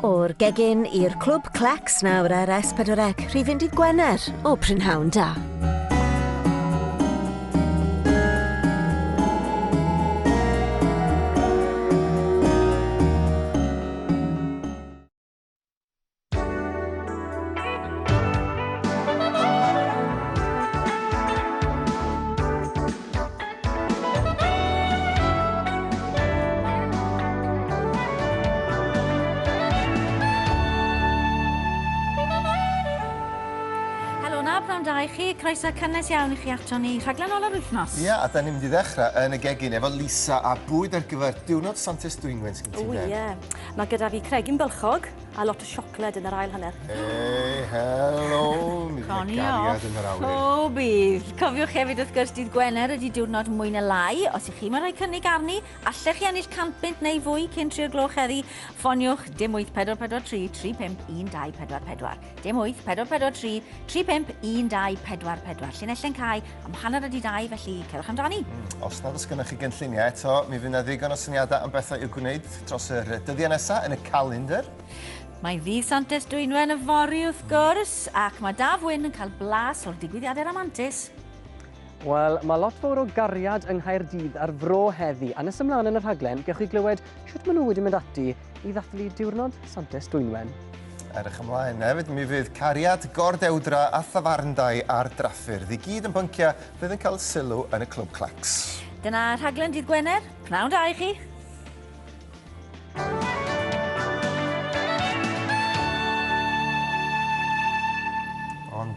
O'r gegin i'r clwb Clecs nawr ar S4C, rhifyn dydd Gwener o Prynhawn Da. i chi, croeso cynnes iawn i chi ato ni rhaglen ol yr wythnos. Ia, yeah, a da ni'n mynd i ddechrau yn y gegin efo Lisa a bwyd ar gyfer diwrnod Santes Dwynwen, sgyn ti'n O, ie. Mae gyda fi cregyn bylchog a lot o siocled yn yr ail hanner. Hey, hello! Mi fydd y gariad yn yr awyr. O, bydd. Cofiwch hefyd wrth gwrs dydd Gwener ydy diwrnod mwy na lai. Os ych chi mae'n rhoi cynnig arni, allech chi ennill 100 bunt neu fwy cyn 3 o gloch heddi. Ffoniwch dim 8443 351244. Dim 8, 4, 4, 3, 3, 5, 1, 2, 4, 4. Llinell yn cae am hanner ydi 2, felly cerwch amdani. Mm, os nad oes gennych chi gynlluniau eto, mi fydd yna ddigon o syniadau am bethau i'w gwneud dros yr dyddiau nesaf yn y calendr. Mae ddydd Santes Dwynwen y fori wrth mm. gwrs, ac mae Daf Wyn yn cael blas o'r digwyddiadau ramantus. Wel, mae lot fawr o gariad yng Nghaerdydd a'r fro heddi, a nes ymlaen yn y rhaglen, gewch chi glywed sut maen nhw wedi mynd ati i ddathlu Diwrnod Santes Dwynwen. Erch ymlaen. Hefyd, mi fydd cariad, gordewdra a thafarndai ar draffyrdd i gyd yn bynciau fydd yn cael sylw yn y Clwb Clacks. Dyna rhaglen dydd Gwener. Pnawn da i chi!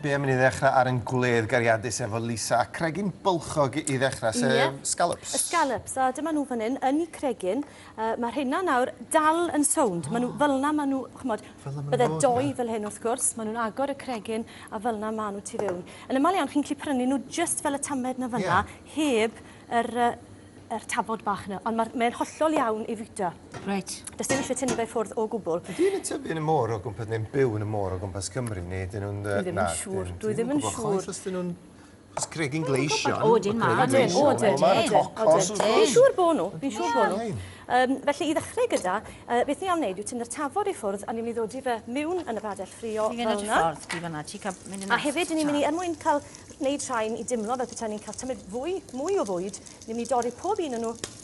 be am i ni ddechrau ar yn gwledd gariadus efo Lisa a cregyn bylchog i ddechrau, sef yeah. scallops. Y scallops, a dyma nhw fan hyn, yn y cregyn. Yy, ma' rheina nawr dal yn sownd. Ma' nhw fel 'na, ma' nhw, ch'mod... Fel 'na ma' nhw'n bod, ie? ...bydde dou fel hyn wrth gwrs, ma' nhw'n agor y cregyn, a fel 'na ma' nhw tu fewn. Yn amal iawn chi'n gallu prynu nhw jyst fel y tamed 'na fynna... Ie. ...heb yr yy yr tafod bach 'na, ond ma'r mae'n hollol iawn i fwyta. Reit. Does dim isie tynnu fe ffwrdd o gwbwl. Ydi hyn yn tyfu yn y môr o gwmpa- neu'n byw yn y môr o gwmpas Cymru, neu ydyn nhw'n yy... Dwi ddim yn siŵr, dwi ddim yn siŵr. Chwaith os 'dyn nhw'n It's cregyn gleision. O, ydyn, ma'. Ydyn, o, ydyn. Ma'r tocos wrth gwrs. Fi'n siŵr bo' nhw, fi'n siŵr bo' nhw. Yym, felly, i ddechrau gyda, yy, beth ni am wneud yw tynnu'r tafod i ffwrdd, a ni'n mynd i ddodi fe miwn yn y bradell ffrio fel 'na. Ni'n mynd i ffwrdd ti fan'na, ti ca- mynd yn A hefyd, ni'n mynd i, er mwyn cael, wneud rhain i dimlo fel petai ni'n cael tymud fwy, mwy o fwyd, ni'n mynd i dorri pob un o nhw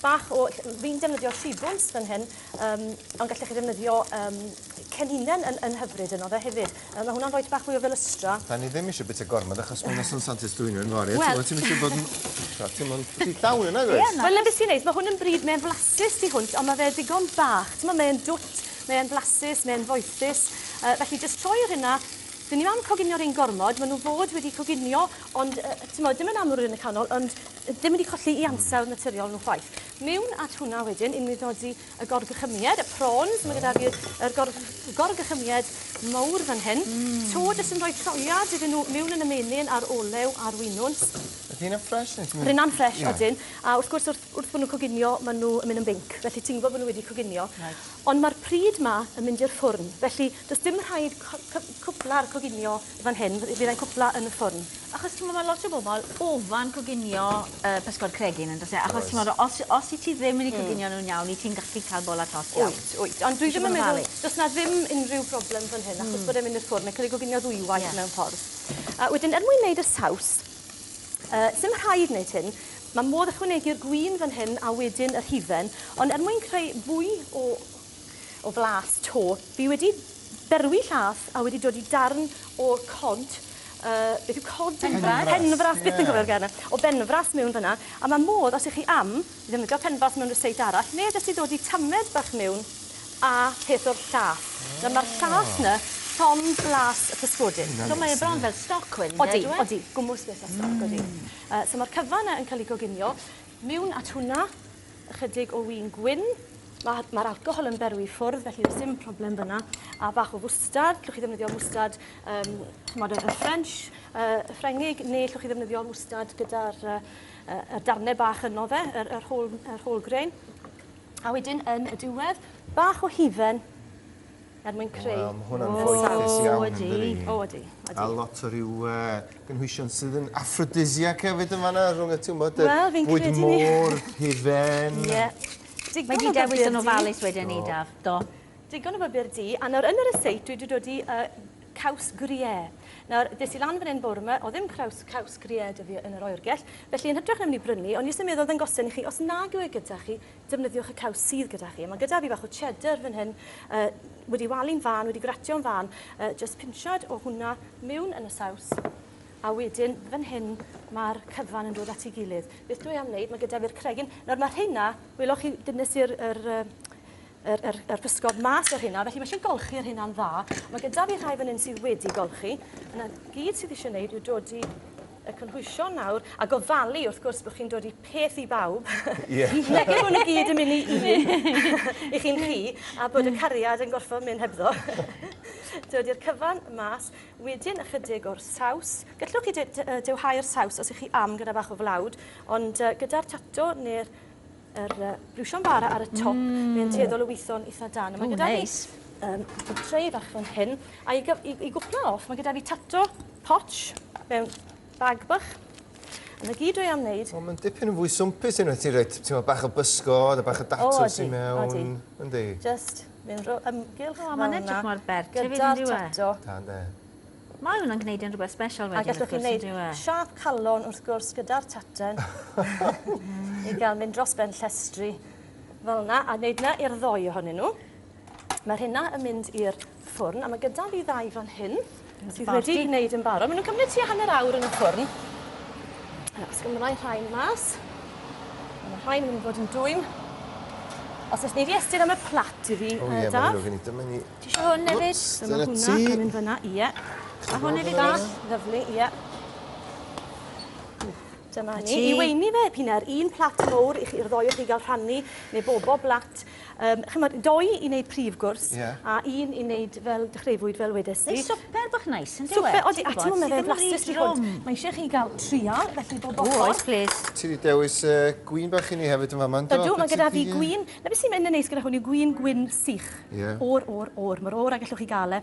bach o... ll- fi'n defnyddio shibwns fan hyn, yym, ond gallech chi ddefnyddio yym ceninen yn yn hyfryd yno fe hefyd. Yy ma' hwnna'n rhoi bach fwy o felystra. Da ni ddim isio bita gormod achos ma' noson sant ers dwyno yfory a t'mod... Wel... ...ti'm isio bod yn t'mod ti'm ond rhy llawn yn nag wyt? Ie na. Wel na be' sy'n neis ma' hwn yn bryd mae'n flasus tu hwnt on' ma' fe digon bach t'mo' mae e'n dwt mae e'n flasus mae e'n foethus yy felly jyst troi y rhina 'dyn ni 'im am coginio rein gormod ma' nw fod wedi coginio ond yy t'mod dim yn amlwg yn y canol ond ddim wedi colli i ansawdd naturiol nhw chwaith. Mewn at hwnna wedyn, i nwyddodi y gorgychymyed, y prawns, mae gyda fi'r er gor, gorgychymyed mawr fan hyn. Mm. To jyst yn rhoi troiad iddyn nhw mewn yn y menyn a'r olew a'r wynwns. Ydy hynna'n ffres? Rhynna'n ffres, yeah. odyn. A wrth gwrs, wrth, wrth bod nhw'n coginio, maen nhw yn mynd yn binc. Felly ti'n gwybod bod nhw wedi coginio. Right. Ond mae'r pryd ma yn mynd i'r ffwrn. Felly, does dim rhaid cwpla'r coginio fan hyn, fydd e'n cwpla yn y ffwrn. Achos t'mod ma' lot o bobol ofan coginio yy pysgod cregyn yndos e? Oes. Achos t'mod os os wyt ti ddim wedi coginio nw'n iawn wyt ti'n gallu ca'l bola tost iawn. Wyt wyt ond dwi ddim yn meddwl do's 'na ddim unrhyw broblem fan hyn achos bod e'n mynd i'r ffwrn mae'n ca'l ei goginio ddwywaith mewn ffordd. A wedyn er mwyn neud y saws yy sim rhaid neud hyn ma' modd ychwanegu'r gwin fan hyn a wedyn yr hufen ond er mwyn creu fwy o o flas to. Fi wedi berwi llath a wedi dodi darn o cod yy beth yw cod? Penfras. Penfras byth yn cofio'r gair 'na. O benfras miwn fynna a ma' modd os 'ych chi am ddefnyddio penfras mewn ryseit arall ne' jyst i ddodi tamed bach miwn a peth o'r llath. Nawr ma'r llath 'na llond blas y pysgodyn. So mae e bron fel stoc wedyn 'de on'd yw e? Odi odi. Gwmws beth o stoc odi. Yy so ma'r cyfan 'na yn ca'l 'i goginio Mewn at hwnna, ychydig o win gwyn. Mae'r ma alcohol yn berwi ffwrdd, felly does dim problem fyna. A bach o fwstard, llwch chi ddefnyddio mwstard um, chymod, y French, uh, y Ffrengig, neu llwch chi ddefnyddio mwstard gyda'r uh, uh, darnau bach yno fe, yr, yr, whole, yr whole grain. A wedyn yn y diwedd, bach o hufen Er mwyn creu... Wel ma' hwnna'n foethus iawn yndydi? O ydi. O ydi. Ydi. A lot o ryw yy gynhwysion sydd yn aphrodisiac hefyd yn fan 'na rhwng y t'mod yr... Wel fi'n credu 'ny. ...bwyd môr, hufen. Ie. Digon o... Mae 'di dewis yn ofalus wedyn 'ny Daf. Do. Digon o bapur du a nawr yn y resit dwi 'di dodi yy caws gruyère. Nawr des i lan fan 'yn bore 'ma o'dd ddim craws caws gruyère 'dy fi yn yr oergell felly yn hytrach na myn' i brynu o'n i jyst yn meddwl ddangosion i chi os nag yw e gyda chi defnyddiwch y caws sydd gyda chi. Mae gyda fi fach o cheddar fan hyn, uh, wedi walu'n fan, wedi gratio'n fan, uh, just pinchad o hwnna mewn yn y saws. A wedyn, fan hyn, mae'r cyfan yn dod at ei gilydd. Beth dwi am wneud, mae gyda fi'r cregyn. Nawr mae rheina, welwch chi, dyn nes i'r er, er, er, er, er pysgod mas o'r hynna, felly mae eisiau golchi yr hynna'n dda. Mae gyda fi rhai fan hyn sydd wedi golchi. Yna gyd sydd eisiau gwneud yw dod i y cynhwysion nawr a gofalu wrth gwrs bod chi'n dod i peth i bawb. Ie. Felly bo' ni gyd yn myn' i un i chi'n chi a bod y cariad yn gorffo myn' hebddo. Dod i'r cyfan mas wedyn ychydig o'r saws. Gellwch chi de- de- yy dewhau'r saws os 'ych chi am gyda bach o flawd ond yy gyda'r tato ne'r yr yy briwsion bara ar y top... Mmm. ...mae e'n tueddol o witho'n itha dân. Ww neis. A ma' gyda fi yym tray bach fan hyn a i gyf- i i gwpla off ma' gyda fi tato potsh mewn Bag bach. A 'na gyd dwi am neud. O ma'n dipyn yn fwy swmpus unwaith ti'n rhoid t'mod bach o bysgod a bach o datws i mewn. O ydi, ydi. Yndi? Jyst mynd o ymgylch fel 'na. O ma'n edrych mor bert hefyd yndyw e? Gyda'r tato. Da ynde? Mae hwnna'n gneud e'n rwbeth sbesial wedyn wrth gwrs yndyw e? A gallwch chi neud siâp calon wrth gwrs gyda'r tartan i ga'l mynd dros ben llestri fel 'na a neud 'na i'r ddou ohonyn n'w. Ma'r rheina yn mynd i'r ffwrn a ma' gyda fi ddau fan hyn sydd wedi wneud yn barod. Ma' nw'n cymryd tua hanner awr yn y ffwrn. Nawr, os gymra' i rhain mas. A ma' rhain yn mynd i fod yn dwym. Os nes ni di estyn am y plat i fi, Daf. O ie, ma' ddrwg gen i. Dyma ni. Ti isio hwn efyd? Dyna ti. Dyma hwnna yn mynd fyna, ie. A hwn efyd bach? Lyfli, ie. Dyma ni. I weini fe, p'un a'r un plat mowr i chi, i'r ddoi o chi ga'l rhannu, neu bobo blat. Yym, ch'mod, dou i neud prif gwrs... Ie. ...a un i neud fel dechreuwyd, fel wedes di. Neu swper bach neis, yndyw e? Swper, odi, a t'mod, ma' fe'n flasus i hwn. Mae isie chi ga'l trial, felly bob ochr. O, oes, plîs. Ti 'di dewis yy gwin bach i ni hefyd yn fama, yndo? Ydw, ma' gyda fi gwin, 'na be' sy'n myn' yn neis gyda hwn yw gwin gwyn sych. Ie. O'r, o'r, o'r, ma'r o'r 'na gellwch chi ga'l e.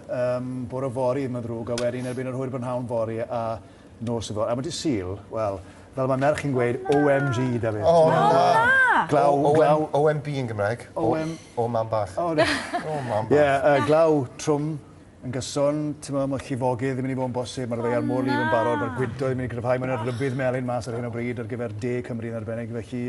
Yym, bore yfory, mae'n ddrwg, a wedyn erbyn yr hwyr brynhawn fory a nos yfory. A mae dydd Sul, wel, fel mae merch yn gweud, OMG, Dafydd. O, na! Glaw, glaw. OMB yn Gymraeg. OM... O, mam bach. O, na. O, mam bach. Ie, glaw, trwm, yn gyson, ti'n meddwl, mae llifogydd yn mynd i fod yn bosib, mae'r ddeiar môr lif yn barod, mae'r gwydo yn mynd i gryfhau, mae'n rhybudd melyn mas ar hyn o bryd ar gyfer de Cymru yn arbennig, felly...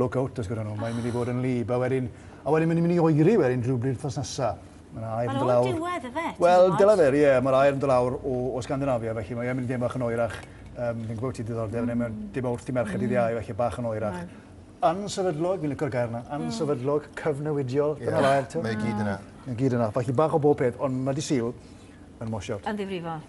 Look out os gyda nhw, mae'n mynd i fod yn lib, a wedyn, a wedyn mae'n mynd i oeri wedyn rhywbryd wrthnos nesa. Mae'n air yn dod lawr. Mae'n diwedd y fe, Wel, dyla fe, ie, mae'r air yn dod lawr o, o Scandinavia, felly mae'n mynd i ddim bach yn oerach. Um, fi'n gwybod ti diddordeb, mm. mae'n dim wrth i merched dydd iau, felly bach yn oerach. Right ansefydlog, fi'n licor gair yna, hmm. ansefydlog, mm. cyfnewidiol, dyna yeah. fair, ti'n? Mae gyd yna. Mae gyd yna, falle bach o bob peth, ond mae di syl yn mosiod. Yn ddifrifol.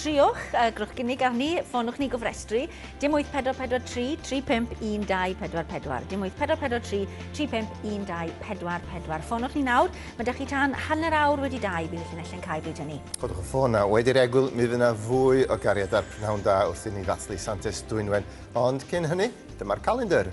Triwch, a grwch gynnig arni, ffonwch ni gofrestru, dim 8443 3512444, dim 8443 3512444. Ffonwch ni nawr, mae da chi tan hanner awr wedi dau, bydd y llinelle'n cael bryd hynny. Codwch y ffôn na, wedi'r egwyl mi fydd yna fwy o gariad a'r pnawn da wrth i ni ddathlu Santes Dwynwen, ond cyn hynny, dyma'r calendr.